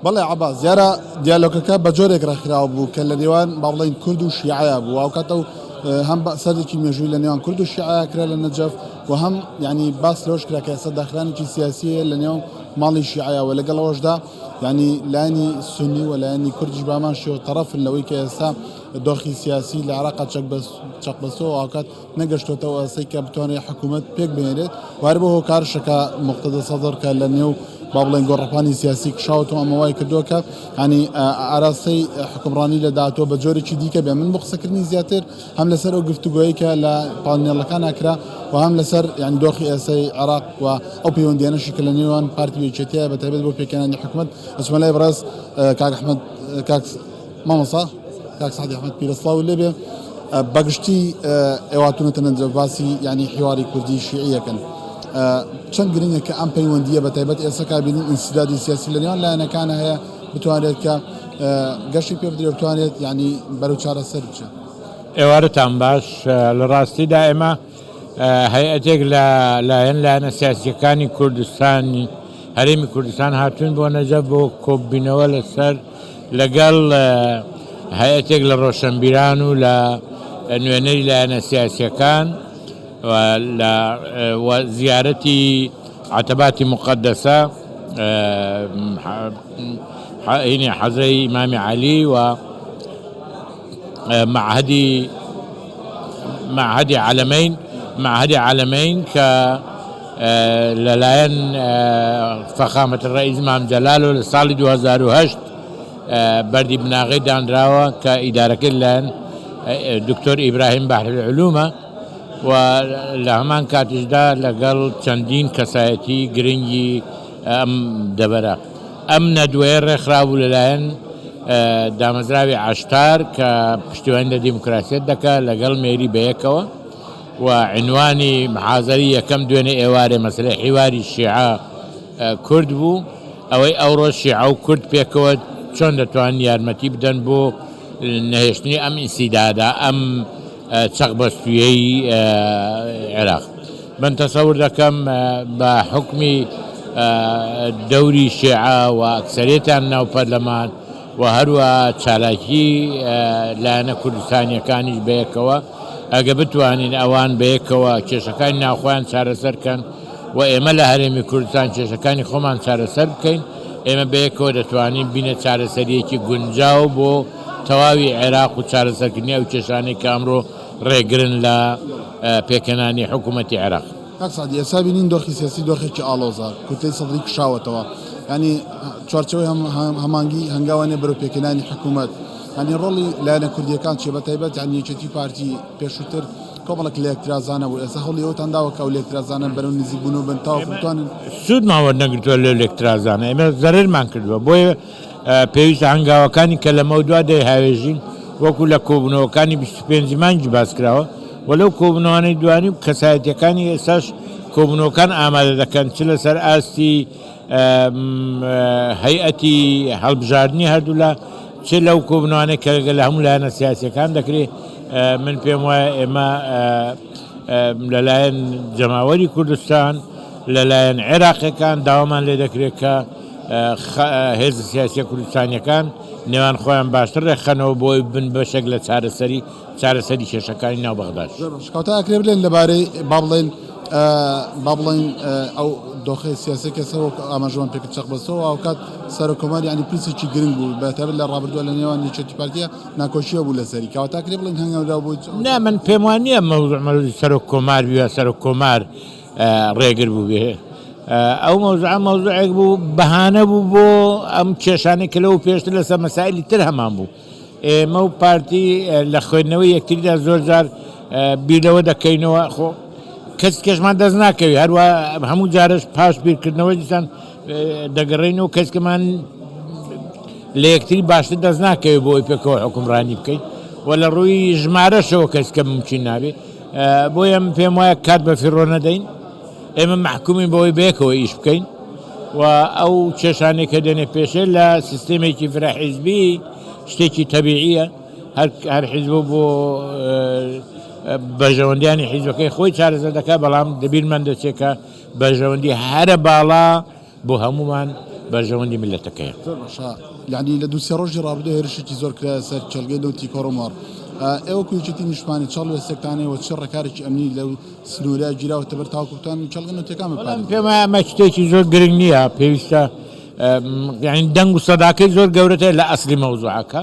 بەڵێ عەباس دیارە دیالۆگەکە بە جۆرێک ڕێکخراو بوو کە لە نێوان با بڵێین کورد و شیعە بوو ئەو کاتە و هەم سەردێکی مێژووی لە نێوان کورد و شیعە کرا لە نەجەف و هەم ینی باس لەوەش کرا کە ئێستا داخرانێکی سیاسیە لە نێو ماڵی شیعە و لەگەڵەوەشدا ینی لانی سنی و لایەنی کوردیش بامان شێوە تەرەفن لەوەی کە ئێستا دۆخی سیاسی لە عراقا چەک بەس چەق بەسەوە ئاکات نەگەشتۆتەوە ئاستێک کە بتوانێت حکوومەت پێک بێنێت وارە بۆ هۆکارشەکە مختدە سەدر کە لە نێو با بڵێن گۆڕەپانی سیاسی کشاوتەوە ئەمە وای کردووە کە ینی ئاراستەی حکمڕانی لە داهاتوە بە جۆرێکی دیکە بێ من بۆ قسەکردنی زیاتر هەم لەسەر ئەو گفتوگوۆیی کە لە پانێڵەکان ناکرا و هەم لەسەر یان دۆخی ئێسای عراق و ئەو پەیوەندیانەشی کە لە نێوان پارتی وێچێتەیە بە تایبێت بۆ پێکەانی حکومت ئەسمەلای بڕاز کاکحمد کاک مامۆستا کاک سەعدی ئەحمەد پیرە سڵاوت لێ بێ بەگشتی ئێواتونەتە نەنجە باسی یعنی حیواری کوردی شیعیەکەن چەند گرنگە کە ئەم پەیوەندیە بە تایبەت ئێستا کابینی ئینسدادی سیاسی لە نێوان لایەنەکان هەیە بتوانێت کە گەشتی پێ بدرێ بتوانێت یعنی بەرەو چارەسەر بچێت ئێوارەتان باش لە ڕاستیدا ئێمە هەیئەتێک لە لایەن لایەنە سیاسییەکانی کوردستانی هەرێمی کوردستان هاتوون بۆ نەجەف بۆ کۆببینەوە لەسەر لەگەڵ هەیئەتێک لە ڕۆشەنبیران و لە نوێنەری لایەنە سیاسییەکان و زیارەتی عەتەباتی موقەدەسە حەزرەی ئیمامی عەلی و مەعهەدی مەعهەدی عەلەمەین مەعهەدی عەلەمەین کە لە لایەن فەخامەت الرئیس مام جەلال و لە ساڵی 2008 بەردی بناغەی دانراوە کە ئیدارەکەی لەلایەن دکتۆر ئیبراهیم بحر العلومە و لە هەمان کاتیشدا لەگەڵ چەندین کەسایەتی گرنگی ئەم دەڤەرە ئەم نەدوەیە رێکخرا بوو لەلایەن دامەزراوی عەشتار کە پشتیوانی لە دیموکراسیەت دەکا لەگەڵ مێری بەیەکەوە و عینوانی محازەری یەکەم دوێنێ ئێوارێ مەسەلەی حیواری شیعە کورد بوو ئەوەی ئەوڕۆ شیعە و کورد پێکەوە چۆن دەتوان یارمەتی بدەن بۆ نەهێشتنی ئەم ئینسیدادا ئەم چەق بەستویەی عێراق من تەسەور دەکەم بە حوکمی دەوری شێعە و ئەکسەریەتیان ناو پەرلەمان و هەروە چالاکی لایەنە کوردستانیەکانیش بەیەکەوە ئەگە بتوانین ئەوان بەیەکەوە کێشەکانی ناوخۆیان چارەسەر کەن و ئێمە لە هەرێمی کوردستان کێشەکانی خۆمان چارەسەر بکەین ئێمە بەیەکەوە دەتوانین بینە چارەسەریەکی گونجاو بۆ تەواوی عێراق و چارەسەرکردنی ئەو کێشانەی کە ئەمڕۆ ڕێگرن لە پێکهێنانی حکوومەتی عێراق. کاک سەعدی، ئێستا بینین دۆخی سیاسی دۆخێکی ئاڵۆزە، کوتلەی سەدری کشاوەتەوە، یانی چوارچێوەی هەمانگی هەنگاوە نییە بەرەو پێکهێنانی حکوومەت، یانی ڕۆڵی لایەنە کوردییەکان چییە، بەتایبەت یانی یەکێتی و پارتی، پێشووتر کۆمەڵێک لێکترازانە بوو، ئێستا هەوڵی ئەوەتان داوە کە ئەو لێکترازانە بەرەو نزیکبوون و بن تاوەکو بتوانن. سوودمان وەرنەگرتووە لەو لێکترازانە، ئێمە زەرەرمان کردووە، بۆیە. پێویستە هەنگاوەکانی کە لەمەودوا دەیهاوێژین وەکو لە کۆبوونەوەکانی بیست و پێنج مانگی باسکراوە و لەو کۆبوونەوانەی دوانی و کەسایەتییەکانی ئێستاش کۆبوونەوەکان ئامادە دەکەن چ لەسەر ئاستی هەیئەتی هەڵبژاردنی هەردوولا چ لەو کۆبوونەوانەی کە لە هەموو لایەنە سیاسییەکان دەکرێ من پێم وایە ئێمە لەلایەن جەماوەری کوردستان لەلایەن عێراقییەکان داوامان لێ دەکرێت کە هێزە سیاسیە کوردستانیەکان نێوان خۆیان باشتر ڕێکخەنەوە بۆی بن بەشێک لە چارەسەری چارەسەری کێشەکانی ناو بەغداد شکاوتە ئەکرێ بلێن لەبارەی با بڵێن با بڵێن ئەو دۆخی سیاسی کەسەوە ئاماژوان پێک چەق بەسەوە ئەوکات سەرۆکۆماری ینی پرسێکی گرنگ بوو بەتەبێت لە ڕابردووە لە نێوان یەکێتی پارتیە ناکۆشیە بوو لەسەری کاوتاکرێ بڵین هەنگەورا بوو نا من پێم وانە مەوزمەری سەرۆک کۆمار بووە سەرۆک کۆمار ڕێگر بووبێ ئەو مەوزوعە مەوزوعێک بوو بەهانە بوو بۆ ئەم کێشانەی کە لەوە پێشتر لەسەر مەسایلی تر هەمان بوو ئێمە و پارتی لە خوێندنەوەی یەکتریدا زۆر جار بیرەوە دەکەینەوە خۆ کەس کەشمان دەست ناکەوی هەروە هەموو جارش پاش بیرکردنەوە دیسان دەگەڕین و کەسکەمان لە یەکتری باشتر دەست ناکەوێت بۆی پێکەوە حکومڕانی بکەین و لە ڕووی ژمارەشەوە کەسکە ممکن نابێت بۆیە من پێم وایە کات بە فیڕۆ نەدەین، ئێمە مەحکومین بەوەی بەیەکەوە ئیش بکەین و ئەو کێشانەی کە دێنێ پێشێ لە سیستێمێکی فرە حیزبی شتێکی تەبیعییە، هەر حیزب و بۆ بەرژەوەندیانی حیزبەکەی خۆی چارەسەر دەکا، بەڵام لە بیرمان دەچێ کە بەرژەوەندی هەرە باڵا بۆ هەموومان بەرژەوەندی میللەتەکەیە. زۆر باشە یانی لە دوو سێ ڕۆژی ڕابردوو هێرشێکی زۆر کرایە سەر کێڵگەی نەوتی کۆرمۆر، ئێوە وەکو یەکێتی نیشتمانی چ هەڵوێستێکتان هەیە و چ ڕێکارێکی ئەمنی لەو سنوورە گیراوەتەبەر تاوەکو بتوانن کێڵگە نەوتییەکان بپارێزن؟ وەڵام، پێم وایە ئەمە شتێکی زۆر گرنگ نییە، پێویستە یانی دەنگ و سەداکەی زۆر گەورەترە لە ئەسڵی مەوزوعەکە.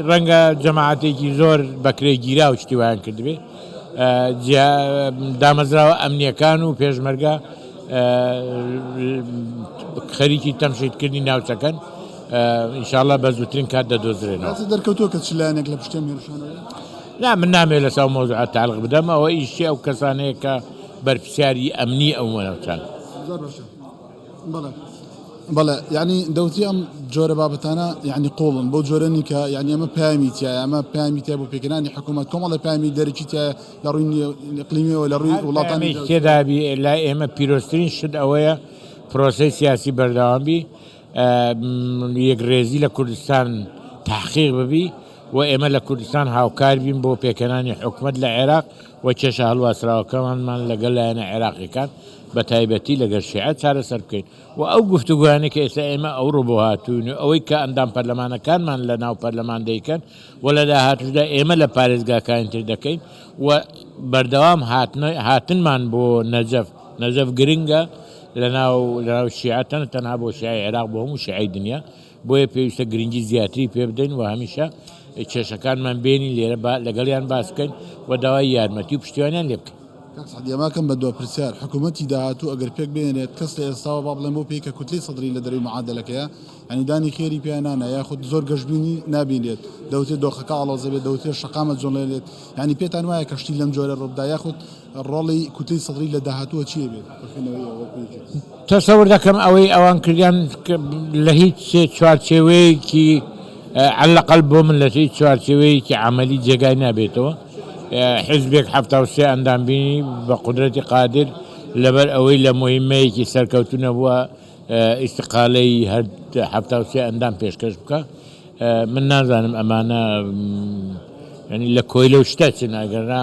ڕەنگە جەماعەتێکی زۆر بەکرێ گیراو شتی وایان کردبێ جیا دامەزراوە ئەمنیەکان و پێشمەرگە خەریکی تەمشیدکردنی ناوچەکەن ئینشاالله بە زووترین کات دەدۆزرێنەوە دەرکەوتۆ کە چلانێک لە پشتێن هێرشانەوە لا من نامێ لە ساو مۆزعات تاالق بدەم ئەوە ئیشی ئەو کەسانەیە کە بەرپسیاری ئەمنی ئەو وەنەوچان. بەڵێ بەڵێ یعنی دەوتی ئەم جۆرە بابەتانە یعنی قۆڵن بۆ جۆرە نیکە یعنی ئەمە پامی تایە ئەمە پامی تای بۆ پێکردانی حکوومەت کۆمەڵی پامی دەرەکی تایە لە ڕووی قلیمیەوە لە ڕووی وڵاتانی تێدابی لا ئێمە پیرۆسترین شت ئەوەیە پرۆسی سیاسی بەردەوامبی یەک ڕێزی لە کوردستان تحقیق ببی و ئێمە لە کوردستان هاوکار بین بۆ پێکەنانی حکومت لە عێراق و کێشە هەڵواسراوەکەمانمان لەگەڵ لایەنە عێراقییەکان بە تایبەتی لەگەڵ شیعە چارەسەر بکەین و ئەو گفتوگۆیانەی کە ئێستا ئێمە ئەوڕۆ بۆ هاتووین و ئەوەی کە ئەندام پەرلەمانەکانمان لە ناو پەرلەمان دەیکەن و لە داهاتووشدا ئێمە لە پارێزگاکانی تر دەکەین و بەردەوام هاتنمان بۆ نەجەف نەجەف گرنگە لە ناو شیعە تەنها بۆ شیعەی عێراق بۆ هەموو شیعەی دنیا بۆیە پێویستە گرنگی زیاتری پێ بدەین و هەمیشە کێشەکانمان بێنین لێرە با لەگەڵیان باس بکەین و داوای یارمەتی و پشتیوانیان لێ بکەین. کاک سەعدی ئەماکەم بە دوا پرسیار، حکوومەتی داهاتوو ئەگەر پێک بهێنێت، کەس لە ئێستاوە با بڵێن بۆ پێی کە کوتلەی سەدری لە دەرەوەی معادەلەکەیە، یانی دانی خێری پیا نانا، یاخود زۆر گەشبینی نابینرێت، دەوترێت دۆخەکە ئاڵۆزە بێت، دەوترێت شەقامە جۆڵێنرێت، یانی پێتان وایە کە شتی لەم جۆرە ڕووبدا، یاخود ڕۆڵی کوتلەی سەدری لە داهاتووە چی ئەبێت؟ خوێندنەوەی ئەوە پێی چی بکەین؟ تەسەور دەکەم ئەوەی ئەوان کردیان لە هیچ چوارچێوەیەکی عەلەقەل بۆ من لە هیچ چوارچێوەیەکی عەمەلی جێگای نابێتەوە حیزبێک حەفتا و سێ ئەندام بینی بە قودرەتی قادر لەبەر ئەوەی لە موهیمەیەکی سەرکەوتوو نەبووە ئیستیقالەی هەر حەفتا و سێ ئەندام پێشکەش بکا من نازانم ئەمانە یانی لە کۆیلە و شتە چن ئەگەرنا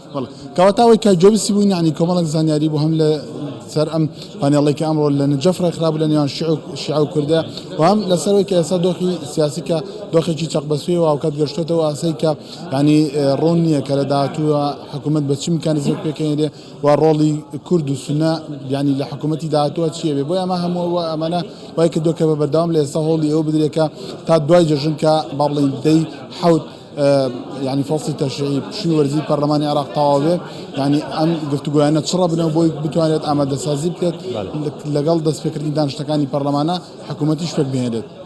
کەواتە ئەوەی کە جۆ بیستی بووین یانی کۆمەڵێک زانیاری بوو هەم لە سەر ئەم پانێڵەی کە ئەمڕۆ لە نجەف ڕێکخرابوو لە نێوان شیعە و شیعە و کوردە و هەم لەسەرەوەی کە ئێستا دۆخی سیاسی کە دۆخێکی چەق بەسووی و هاوکات گەشتوێتەوە ئاسەی کە یانی ڕوون نییە کە لە داهاتووە حکوومەت بە چ میکانیزمێک پێکەنێرێ و ڕۆڵی کورد و سونە یانی لە حکوومەتی داهاتووە چییە بێ بۆی ئەمە هەموو و ئەمانە وای کردووە کە بە بەردەوام لە ئێستا هەوڵی ئەوە بدرێ کە تا دوای جەژن کە با بڵێین دەی حەوت یانی فەسڵی تەشریعی پشووی وەرزی پەرلەمانی عێراق تەواو بێت یانی ئەم گفتوگۆیانە چڕە بنەوە بۆی بتوانێت ئامادەسازی بکرێت لەگەڵ دەستپێکردنی دانیشتنەکانی پەرلەمانە حکوومەتیش پێک بهێنێت.